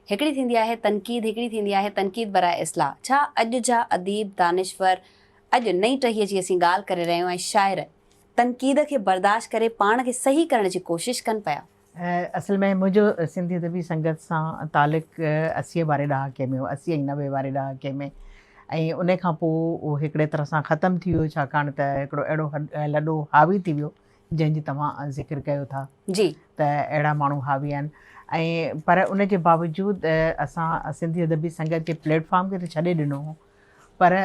هڪڙي ٿيندي آهي تنقيد، هڪڙي ٿيندي آهي تنقيد برائي اصلاح. ڇا اڄ جا اديب، دانشور، اڄ نئين ٽهيء جي اسين ڳالهه ڪري رهيون ۽ شاعر، تنقيد کي برداشت ڪري پاڻ کي صحيح ڪرڻ جي ڪوشش ڪن پيا؟ اصل ۾ منهنجو سنڌي ادبي سنگت سان تعلق اسيء واري ڏهاڪي ۾ هو، اسي ۽ نوي واري ڏهاڪي ۾ ۽ ان کان پوء اهو هڪڙي طرح سان ختم ٿي ويو، ڇاڪاڻ ته هڪڙو اهڙو لڏو حاوي ٿي ويو جنهن جي توهان ذڪر ڪيو ٿا ته اهڙا ماڻهو حاوي آهن ۽ پر ان جي باوجود اسان سنڌي ادبي سنگت جي پليٽ فارم کي ته ڇڏي ڏنو هو پر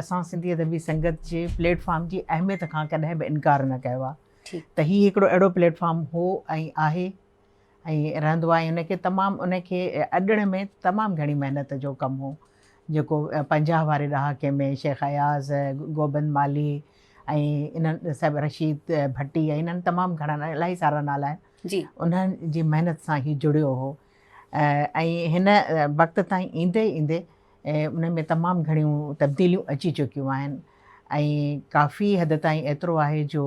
اسان سنڌي ادبي سنگت جي پليٽ فارم جي اهميت کان ڪڏهن به انڪار نه ڪيو آهي ته هي هڪڙو اهڙو پليٽ فارم هو ۽ آهي ۽ رهندو آهي ان کي تمام ان کي اڏڻ ۾ تمام گهڻي محنت جو ڪم هو جيڪو پنجاهه واري ڏهاڪي ۾ شيخ اياز گوبند مالهي ۽ انهن سڀ رشيد ڀٽي ۽ انهن تمام گهڻا الاهي سارا نالا آهن جي انهن جي محنت سان هي جڙيو هو ۽ هن وقت تائين ايندي ايندي ان ۾ تمام گهڻيون تبديليون اچي چڪيون آهن ۽ ڪافي حد تائين ايترو آهي جو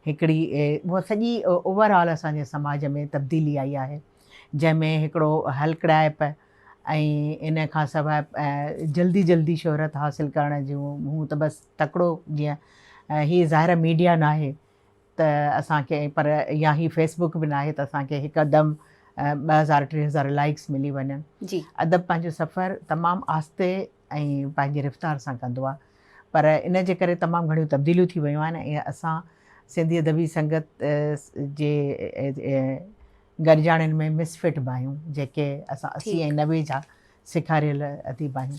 هڪڙي اها سڄي اوور آل اسان جي سماج ۾ تبديلي آئي آهي جنهن ۾ هڪڙو هلڪڙائپ ۽ ان کان سواء جلدي جلدي شهرت حاصل ڪرڻ جون هون ته بس تڪڙو جيئن هي ظاهر ميڊيا ناهي ته اسان کي پر يا هي فيس بڪ به ناهي ته اسان کي هڪدم ٻه هزار ٽي هزار لائڪس ملي وڃن ادب پنهنجو سفر تمام آهستي ۽ پنهنجي رفتار سان ڪندو آهي پر ان جي ڪري تمام گهڻيون تبديليون ٿي ويون آهن ۽ اسان سنڌي ادبي سنگت جي گڏجاڻين ۾ مس فٽ به آهيون جيڪي اسان اسي ۽ نوي جا سيکاريل اديب آهيون